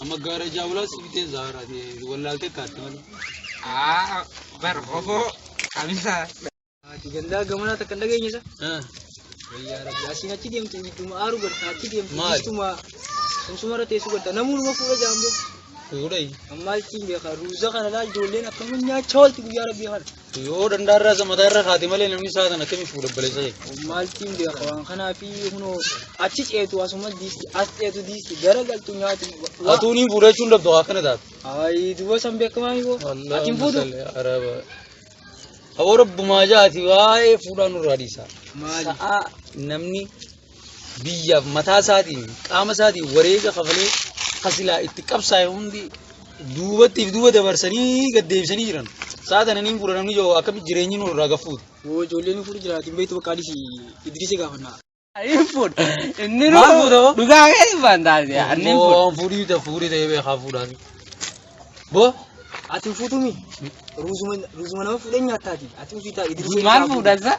Amma gaara jaabulaa si bitee zaara wallaaltee kaatti malee. Aa bar oboo kamisaa. Ati gandaa gamanaa takka hin dhageenye sa? Wayyaa rabbi asiin achi deemtu ittuma aaru gadda achi deemtu Maali? ittuma sumsuma irra teessu gadda namuunuma fuudha jaamboo. Fuudhee. Ammaa ittiin beekaa ruuza kana laal ijoolleen akkamiin nyaachaa oolti guyyaa rabbii kana. Yoo dandaa irraa isa mataa irra kaate malee namni isaa kana akkamitti fuudha obboleessa ta'e. Maaltiin beeka waan kanaa fi kunoo achi ceetu asuma diisti as ceetu diisti gara galtu nyaatu. Atuun hin fuudha jechuun dabdu akkana taate. Ayi duba san beeka waan yoo. Ati hin fuudhu. Hawwa rabbumaa jaati waa'ee fuudhaa nurraa dhiisaa. Maali? Sa'aa namni biyyaaf mataa isaatiin qaama isaatiin wareega kafalee ka silaa itti qabsaa'e hundi duubattiif duuba dabarsanii gad deebisanii jiran. Sa'a tana niin fuudha namni yoo akkamitti jireenyi nu irraa gaffuuti. Woo ijoolleen fuudhu jiraati hin beektu bakka adisi Idriisi gaafanna. Hin fuudha. Inni Maal nu fuudha hoo? dhugaa keessa waan taate inni hin fuudha. Waan fuudhii ta'e fuudhii ta'ee beekaa fuudhaan. Boo Ati hin fuutumi. Ruuzuma ruuzuma nama fuudhee nyaattaati. Ati ofii ta'a Idriisi. Maal fuudhansa?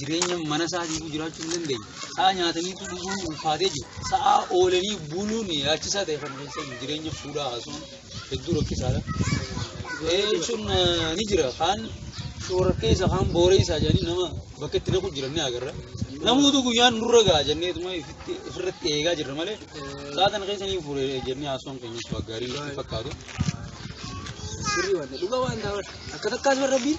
jireenya mana isaatiitu jiraachuu hin dandeenye. Sa'a nyaataniitu dhuguun ulfaatee jiru. Sa'a oolanii buluun yaachisaa ta'e kan keessan jireenya fuudhaa haasuun hedduu rakkisaadha. Jechuun ni jira. Kaan shoora keessa kaan booreessaa jedhanii nama bakka itti naqu jiran ni agarra. Namoota guyyaan nurra ga'a jenneetuma ofirratti eegaa jirra malee sa'a kana keessa ni fuure jennee haasuun keenyas gaariin fakkaatu. Sirrii waan ta'eef dhugaa waan ta'eef akka takkaas barra biin.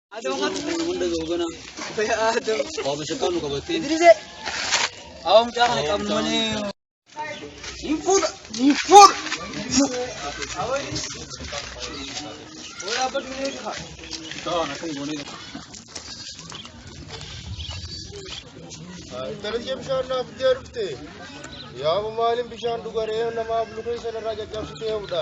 Darajee bishaan naaf itti ergite. Yaa maaliin bishaan dhugaree namaaf luka isa irraa caccabsitee hubdha.